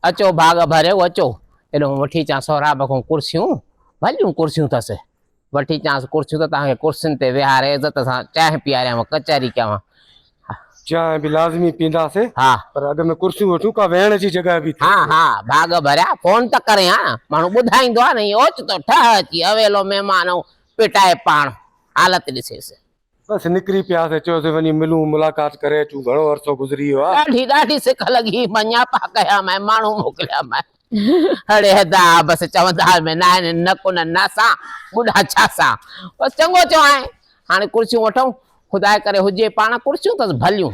اچو ڀاڳ ڀريو اچو. ايڏو وٺي اچان سهراب کان ڪرسيون، ڀليون ڪرسيون اٿس. وٺي اچانس ڪرسيون ته توهان کي ڪرسين تي ويهاري عزت سان چانهه پياريانو، ڪچهري ڪيان. چانهه به لازمي پينداسين. ها. پر اڳ ۾ ڪرسيون وٺون، ڪا ويهڻ جي جڳهه به ٿئي. ها ها، ڀاڳ ڀريا، فون ته ڪرين ها. ماڻهو ٻڌائيندو آهي نه، ائين اوچتو ٺهه اچي اويلو مهمان ائون پٽائي پاڻ حالت ڏسيس. بس نڪري پيا سين چيوسين وڃي ملون ملاقات ڪري اچون گهڻو عرصو گذري ويو آ. ڏاڍي ڏاڍي سڪ لڳي مان نياپا ڪيا مئن ماڻهو موڪليا مئن اڙي حدا آ بس چوندا ۾ ناهن نه ڪنن ناسان ٻڍا ڇا سان بس چڱو چوائين هاڻي ڪرسيون وٺون خداء ڪري هجي پاڻ ڪرسيون تس ڀليون.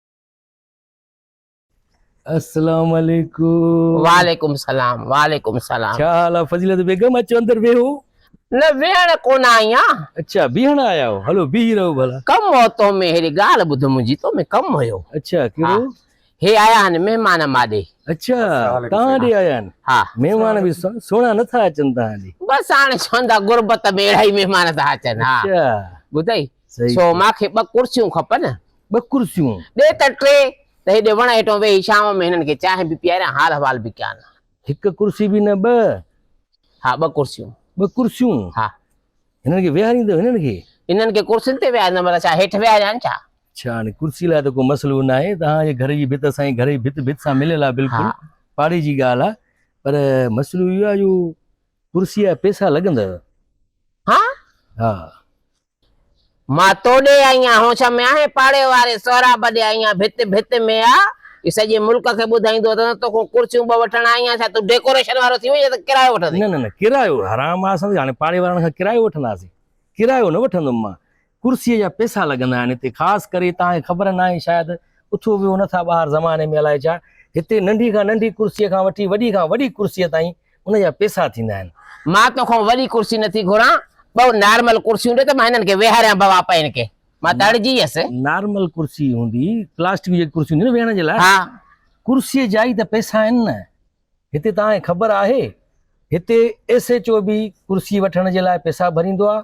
اسلام عليڪم وعليڪم سلام وعليڪم سلام ڇا حال آ فضيلت بيگم اچو اندر ويهو نه ويهڻ ڪونه آئي آ اڇا بيهڻ آيا آهيو هلو بيهي رهو ڀلا ڪم هو تو ۾ ههڙي ڳالهه ٻڌ منهنجي تو ۾ ڪم هيو اڇا ڪهڙو هي آيا آهن مهمان ماڏي اڇا تهان ڏي آيا آهن ها مهمان به سهڻا نه ٿا اچن تهان ڏي بس هاڻي چوندا غربت ۾ اهڙا ئي مهمان ٿا اچن ها اڇا ٻڌئي سو ماکي ٻه ڪرسيون کپن ٻه ڪرسيون. ڏي ته ٽي ته هيڏي وڻ هيٺون ويهي شام ۾ هنن کي چانهه به پياريان، حال احوال به ڪيان. هڪ ڪرسي به نه ٻه. ها ٻه ڪرسيون. ٻه ڪرسيون. ها. هنن کي ويهاريندو هنن کي. هنن کي ڪرسين تي ويهاريندم ورنه ڇا هيٺ ويهاريان ڇا. ڇا هاڻي ڪرسي لاء ته ڪو مسئلو ناهي توهان جي گهر جي ڀت سائين گهر جي ڀت ڀت سان مليل آهي بلڪل پاڙي جي ڳالهه آهي پر مسئلو اهو آهي جو ڪرسي جا پئسا لڳندو. ها. ها. مان تو ڏي آئيان هون شميا هي پاڙي واري سهراب ڏي آئيان ڀت ڀت ۾ آ اهي سڄي ملڪ کي ٻڌائيندو اٿس تو کون ڪرسيون ٻه وٺڻ آئيان ڇا تون ڊيڪوريشن وارو ٿي وئين ته ڪرايو وٺندين. نه نه نه ڪرايو حرام آ سندي هاڻي پاڙي وارن کان ڪرايو وٺنداسين ڪرايو نه وٺندم مان ڪرسي جا پئسا لڳندا آهن هتي خاص ڪري توهان کي خبر ناهي شايد اٿو ويهو نٿا ٻاهر زماني ۾ الائي ڇا هتي ننڍي کان ننڍي ڪرسي کان وٺي وڏي کان وڏي ڪرسي تائين ان جا پيسا ٿيندا آهن. مان تو کان وڏي ڪرسي نه ٿي گهران، ٻه نارمل ڪرسيون ڏي ته مان هنن کي ويهاريان بابا پئين ڪي. مان ته اڙجي ويس. نارمل ڪرسي هوندي، پلاسٽڪ جي ڪرسي هوندي نه ويهڻ جي لاء. ها. ڪرسيء جا ئي ته پيسا آهن نه. هتي توهان کي خبر آهي، هتي ايس ايڇ او به ڪرسي وٺڻ جي لاء پيسا ڀريندو آهي.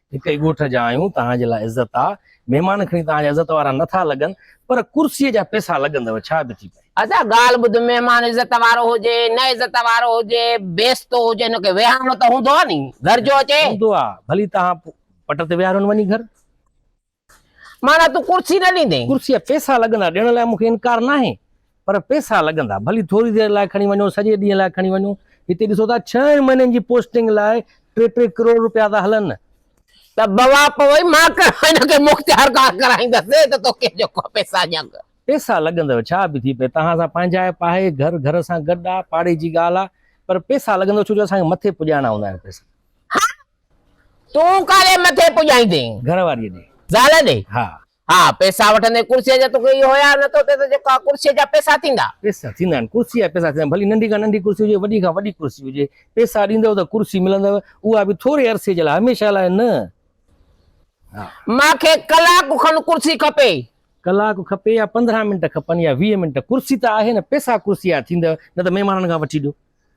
هڪ ئي ڳوٺ جا آهيون، توهان جي لاء عزت آ. مهمان کڻي توهان جا عزت وارا نه ٿا لڳن، پر ڪرسيء جا پئسا لڳندؤ، ڇا به ٿي پئي. ادا ڳالهه ٻڌ، مهمان عزت وارو هجي، نه عزت وارو هجي، بيستو هجي، هن کي ويهارڻو ته هوندو آ ني، گهر جو اچي. هوندو آ، ڀلي توهان پٽ تي ويهاريون وڃي گهر. معنيٰ تون ڪرسي نه ڏيندين. ڪرسي جا پيسا لڳندا، ڏيڻ لاء مون کي انڪار ناهي، پر پيسا لڳندا، ڀلي ٿوري دير لاء کڻي وڃو، سڄي ڏينهن لاء کڻي وڃو، هتي ڏسو ٿا ڇهن مهينن جي پوسٽنگ لاء ٽي ٽي ڪروڙ رپيا ٿا هلن. ته بوا پوي مان ڪهڙو هن کي مختيار ڪار ڪرائيندس، اي ته توکي جو ڪو پيسا ڄنگ. پيسا لڳندو، ڇا به ٿي پئي، توهان سان پنهنجائپ آهي، گهر گهر سان گڏ آ، پاڙي جي ڳالهه آ، پر پيسا لڳندو، ڇو جو اسان کي مٿي پڄائڻا هوندا آهن پيسا. ها تون ڪالي مٿي پڄائيندين. گهر واريء ڏي. زال ڏي. ها. ها. پئسا وٺندين ڪرسيء جا توکي اهو حياء نه ٿو ٿئي ته جيڪا ڪرسيء جا پئسا ٿيندا. پئسا ٿيندا آهن. ڪرسيء جا پئسا ٿيندا. ڀلي ننڍي کان ننڍي ڪرسي هجي وڏي کان وڏي ڪرسي هجي. پئسا ڏيندؤ ته ڪرسي ملندؤ. اها به ٿوري عرصي جي لاء هميشه لاء نه. ها. مان کي ڪلاڪ کن ڪرسي کپي. ڪلاڪ کپي يا پندرهن منٽ کپن يا ويهه منٽ. ڪرسي ته آهي نه. پئسا ڪرسيء جا ٿيندؤ. نه ته مهمانن کان وٺي ڏيو.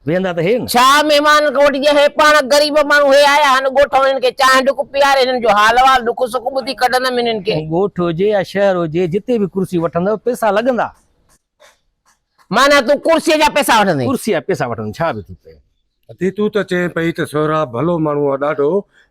ويهندا ته هي نه. ڇا مهمان ڳوٺ جي هي پاڻ غريب ماڻهو هي آيا هن ڳوٺ ۾ هنن کي چانهه ڍڪ پياري هنن جو حال احوال ڏک سک ٻڌي ڪڍندم هنن کي. ڳوٺ هجي يا شهر هجي جتي به ڪرسي وٺندو پيسا لڳندا. معنيٰ تون ڪرسيء جا پيسا وٺندين. ڪرسيء جا پيسا وٺندين ڇا به ٿي پئي. ادي تون ته چئين پئي ته سهراب ڀلو ماڻهو آ ڏاڍو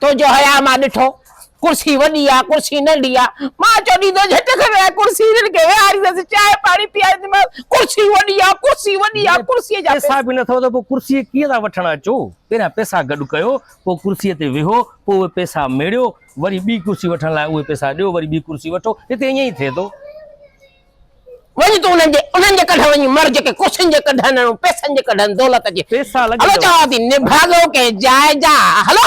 تنهنجو حياء مان ڏٺو، ڪرسي وڏي آ، ڪرسي ننڍي آ. مان چوڏيندو جهٽ کڻي آيو، ڪرسي هنن کي ويهاريندس، چانهه پاڻي پيارينديمانس، ڪرسي وڏي آ، ڪرسي وڏي آ، ڪرسيء جا پئسا به نه اٿئو ته پوء ڪرسي ڪيئن ٿا وٺڻ اچو؟ پهريان پئسا گڏ ڪيو، پوء ڪرسيء تي ويهو، پوء اهي پئسا ميڙيو، وري ٻي ڪرسي وٺڻ لاء اهي پئسا ڏيو، وري ٻي ڪرسي وٺو، هتي ائين ئي ٿئي ٿو. وڃ تون انهن جي انهن جي ڪڍ وڃي مر جيڪي ڪرسين جي ڪڍ هنن ۽ پئسن جي ڪڍ هن دولت جي پئسا لڳي هلو چوان ٿي نڀاڳو ڪنهن جاء جا هلو.